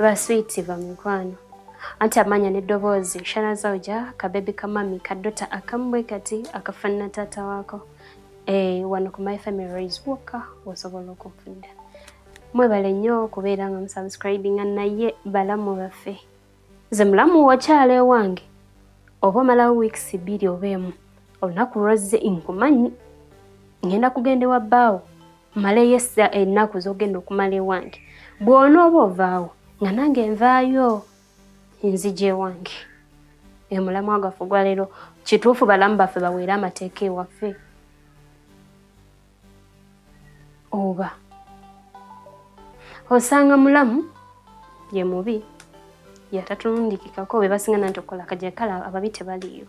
baswiiti bamikwano anti amaanya n'eddoboozi shana zauja kabebi kamami kadota akamu bwe kati akafaanana taata waako eh, wano ku my family raise wokka osobola okunfunira mwebale nnyo okubeera nga musubscribinga naye balamu baffe nze mulamu wakyala ewange oba omalawo wiikisi bbiri oba emu olunaku lwazze nkumanyi ngenda kugenda ewa bbaawo maleyo essa ennaku zogenda okumala ewange bwona oba ovaawo nga nange nvaayo enzija ewange emulamu agaffe ogwaleero kituufu balamu baffe baweere amateeka ewaffe oba osanga mulamu ye mubi yatatulundikikako be basinga nanti okukola kaja kala ababi tebaliyo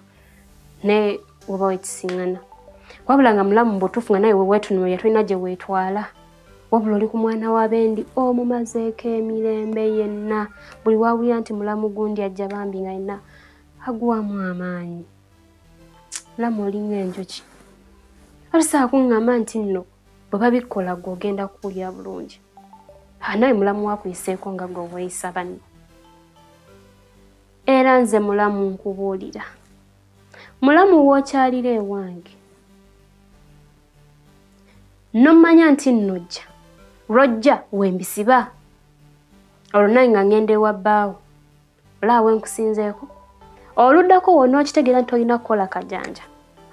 naye oba wekisingana wabula nga mulamu mbutufu nga naye wewetunula yatulina gye weetwala wabula oli ku mwana wa bendi omumazeeko emirembe yenna buli wawulira nti mulamu gundi ajja bambi nga yenna aguwamu amaanyi lama olinywa enjuki alisaa kuŋŋamba nti nno bwe babikola gwe ogenda kuwulira bulungi anawe mulamu wakuyiseeko nga gwe weeyisa banno era nze mulamu nkubuulira mulamu wookyalira ewange nommanya nti nnojja lwojja wembisiba olwo naye nga ngenda ewa bbaawo olaba wenkusinzeeko oluddako wona okitegeera nti olina kukola kajanja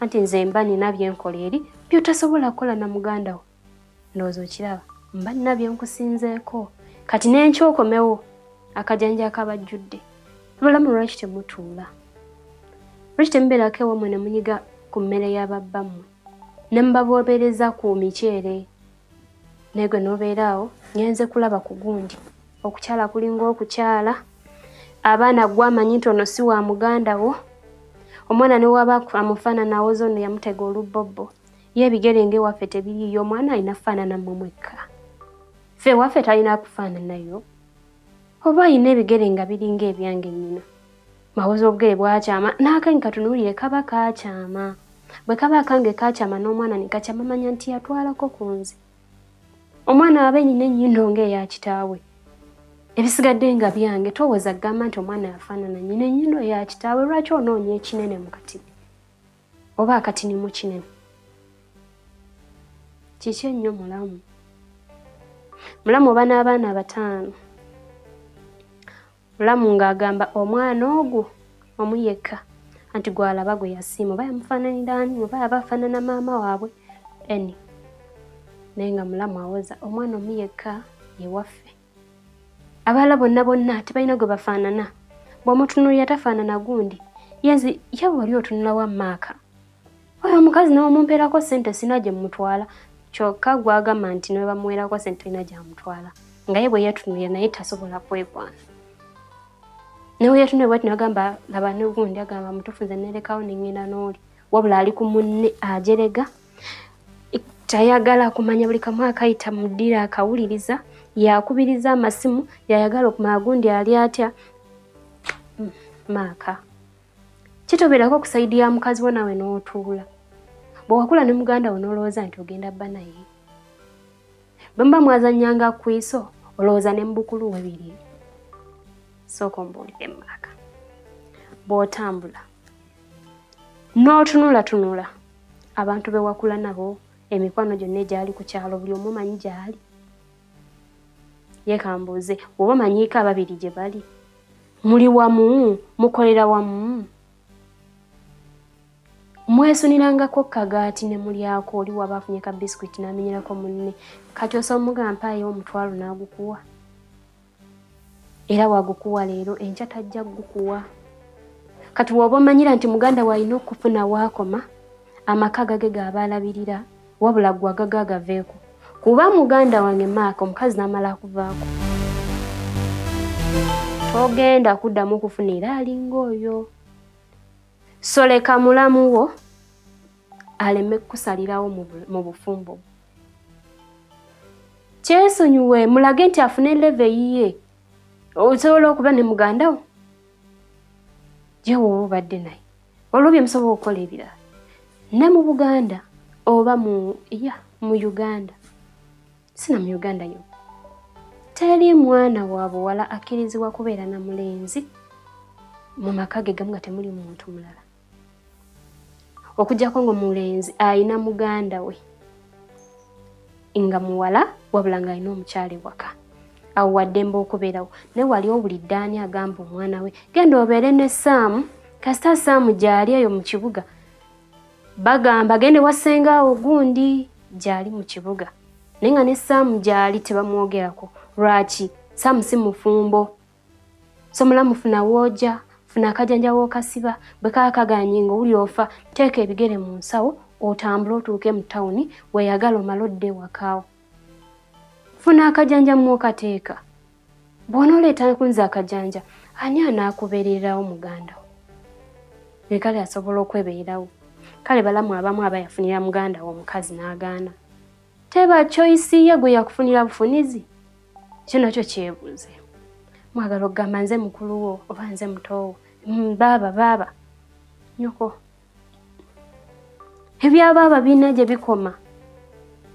anti nze mba nina byenkola eri byotasobola kukola na muganda wo ndowooza okiraba mba nina byenkusinzeeko kati nenkyokomewo akajanja akabajjudde abalamu lwaki temutuula lwaki temubeerako ewamwe ne munyiga ku mmere y'ababbammwe ne mubaboobereza ku miceere naye gwe n'obeera awo ngenze kulaba ku gundi okukyala kulinga okukyala abaana gwe amanyi nti ono si wa muganda wo omwana ne waba amufaanana awoza ono yamutega olubbobbo ye ebigere ng'ewaffe tebiriiyo omwana alina kufaanana mmwe mwekka ffe ewaffe talina kufaananayo oba alina ebigere nga biringa ebyange nnyina mawoza obugere bwakyama n'akanyi katunuulire kaba kaakyama bwe kaba akange kaakyama n'omwana ne kakyama manya nti yatwalako ku nze omwana wabe nyina ennyindo ng'eya kitaawe ebisigadde nga byange towooza kugamba nti omwana yafaanana nyina ennyindo ya kitaawe lwaki onoonya ekinene mu kati oba akatinimu kinene kiki ennyo mulamu mulamu oba n'abaana abataano mulamu ng'agamba omwana ogwo omu yekka anti gwalaba gwe yasiima oba yamufaananira ani oba aba afaanana maama waabwe eni naye nga mulamu awoza omwana omu yekka ewaffe abaala bonna bonna tebalina gwe bafaanana bw'omutunuulira tafaanana gundi yenzi ye wali otunulawo amaaka oyo omukazi nawe mumpeerako sente sina gye mumutwala kyokka gwagamba nti ne bamuweerako sente olina gyamutwala nga ye bwe yeetunuulira naye tasobola kwekwana nawe yeetunuulira bwati nagamba laba ne gundi agamba mutuufu nze neerekawo ne ŋŋenda n'oli wabula ali ku munne ajerega tayagala kumanya buli kamu akayita mudira akawuliriza yakubiriza amasimu yayagala okumanya gundi ali atya hmm, maaka kitobeerako ku sayidi ya mukazi wo nawe n'otuula bwe wakula ne muganda wo n'olowooza nti ogenda bba naye bwe muba mwazannyanga ku iso olowooza ne mu bukulu we biri sooka ombuulire mu maaka bw'otambula n'otunulatunula abantu be wakula nabo emikwano gyonna egyali ku kyalo buli omu manyi gyali yekambuuze oba manyiiko ababiri gye bali muli wamu mukolera wamu mwesunirangako kagaati ne mulyako oli waba afunye ka bisikwiti n'amenyerako munne kati osobola omugamba mpaayo omutwalo n'agukuwa era wagukuwa leero enkya tajja gukuwa kati woba omanyira nti muganda waalina okufuna waakoma amaka gage gaaba alabirira wabula gwe agaga agaveeko kuba muganda wange maaka omukazi n'amala akuvaako togenda kuddamu okufuna era alinga oyo soleka mulamu wo aleme kukusalirawo mu bufumbo kyesonyiwe mulage nti afune leve eyiye osobola okuba ne mugandawo gyewooba obadde naye olwo bye musobola okukola ebirala ne mu buganda oba mu ya mu uganda sina mu uganda yo teri mwana wa buwala akkirizibwa kubeera na mulenzi mu maka ge gamu nga temuli muntu mulala okujjako nga omulenzi alina muganda we nga muwala wabula nga alina omukyala ewaka awo waddembe okubeerawo naye wali owulidde ani agamba omwana we genda obeere ne saamu kasita saamu gyali eyo mu kibuga bagamba gende wasenga awo gundi gyali mu kibuga naye nga ne saamu gyali tebamwogerako lwaki saamu si mufumbo somulamu funa wooja funa akajanja w'okasiba bwe kaba kaganye nga owuli ofa teeka ebigere mu nsawo otambule otuuke mu tawuni weyagala omale odde ewakaawo funa akajanja mwokateeka bwona oleeta kunza akajanja ani anaakubeererawo muganda wo nekale asobola okwebeerawo kale balamu abamu aba yafunira muganda wo omukazi n'agaana teba choice ye gwe yakufunira bufunizi kino nakyo kyebuuze mwagala okugamba nze mukulu wo oba nze mutoowo mm, baaba baaba nyoko ebya baaba biina gye bikoma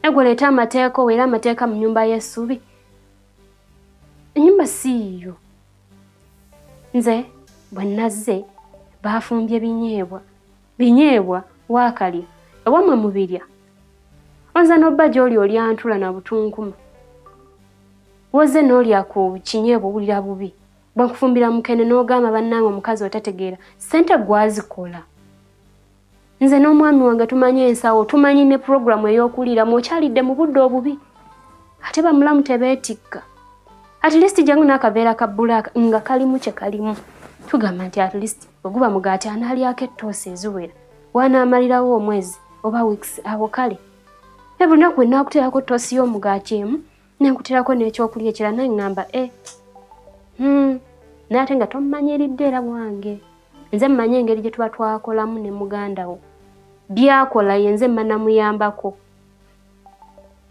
egwe leeta amateeka owo era amateeka mu nyumba y'essubi enyumba siiyo nze bwe nazze baafumbye binyeebwa Binyeebwa waakalya ewamwe mubirya onza n'obba gy'oli olya ntula na butunkuma woze n'olya ku kinyeebwa owulira bubi bakufumbira mukene n'ogamba bannange omukazi otategeera ssente gwazikola nze n'omwami wange tumanyi ensawo tumanyi ne puroguramu ey'okuliiramu okyalidde mu budde obubi ate bamulamu tebeetikka at least jangu n'akaveera ka bbulaaka nga kalimu kye kalimu tugamba nti at least bwe guba mugaati anaalyako ettoosi eziwera waanaamalirawo omwezi oba wiikisi awo kale ne buli lunaku bwe naakuteerako ttoosi y'omugaati emu ne nkuteerako n'ekyokulya ekira naye ŋŋamba e eh, hmm, naye ate nga tommanyiridde era wange nze mmanyi engeri gye tuba twakolamu ne muganda wo byakola ye nze mmanamuyambako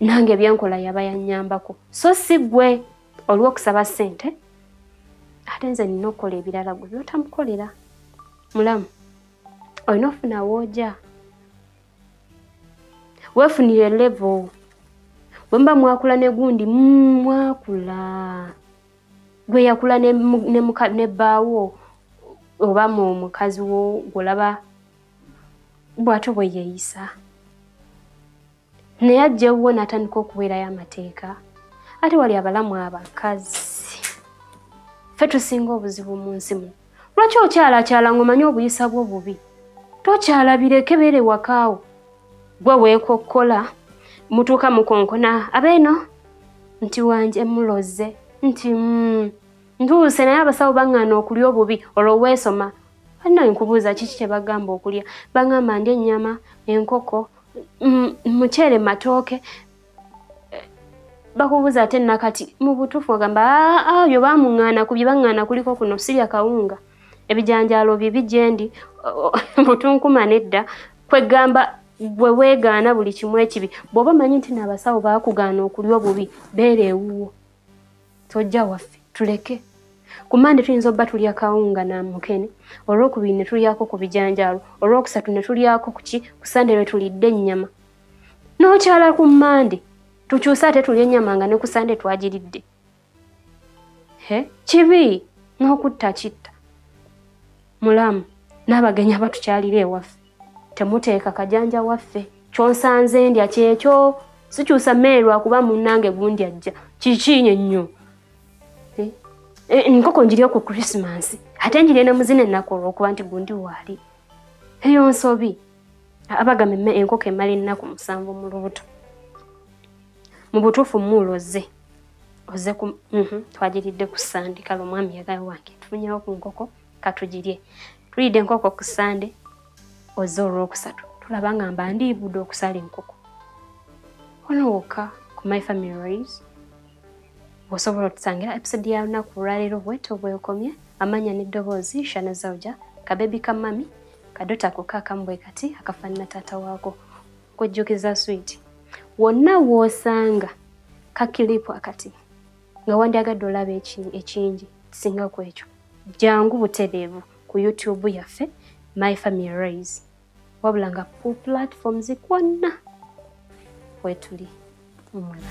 nange byenkola yaba yanyambako so si gwe olw'okusaba ssente ate nze nina okukola ebirala gwe byotamukolera mulamu olina ofuna wooja weefunire levo bwe muba mwakula ne gundi mm, mwakula gwe yakula ne bbaawo oba mu mukazi wo gwolaba bw'ato bwe yeeyisa naye ajja ewuwo n'atandika okuweerayo amateeka ate wali abalamu abakazi ffe tusinga obuzibu mu nsi muno lwaki okyala akyala ng'omanyi obuyisa bwo bubi tokyala bireke beere wakaawo gwe weekokkola mutuuka mukonkona abeeno nti wanje muloze nti mm, ntuuse naye abasawo baŋŋaana okulya obubi olwo weesoma Anna nkubuuza kiki kye bagamba okulya? Bangamba ndya ennyama, enkoko, mm, muceere, matooke. Eh, bakubuuza ate nakati mu butuufu ogamba ah, ah, byo bamung'aana ku bye bang'aana kuliko kuno sirya kawunga ebijanjaalo bibi gye ndi butunkuma nedda kwegamba gwe weegaana buli kimu ekibi bw'oba omanyi nti naabasawo baakugaana okulya obubi beera ewuwo tojja waffe tuleke ku mande tuyinza obba tulya kawunga na mukene olwokubiri ne tulyako ku bijanjaalo olwokusatu ne tulyako kuki ku sande lwe tulidde ennyama n'okyala ku mande tukyuse ate tulya ennyama nga ne ku sande twagiridde he kibi n'okutta kitta mulamu n'abagenyi abatukyalira ewaffe temuteeka kajanja waffe kyonsanze ndya kyekyo sikyusa mmere lwakuba munnange gundi ajja kikiinyo nnyo eh, eh, enkoko njiri oku krisimansi ate njiri ne muzina ennaku olwokuba nti gundi waali eyo nsobi abagamba emme enkoko emala ennaku musanvu mu lubuto mu butuufu muulozze oze mhm, twagiridde ku sandikala omwami yagayo wange tufunyewo ku nkoko katugirye tulidde enkoko ku sande oze olwokusatu tulaba nga mba ndiibudde okusala enkoko ono wokka ku my family rays osobola otusangira episode ya lunaku lwaleero bwetyo bwekomye amanya n'eddoboozi shana zauja kabebi ka mami kadota koka akambwe kati akafaanana taata waako kujjukiza swiiti wonna woosanga kakilipu akati nga wandyagadde olaba ekingi kisinga ku ekyo jangu butereevu ku youtube yaffe my family rais wabula nga pu platforms kwonna kwetuli omulala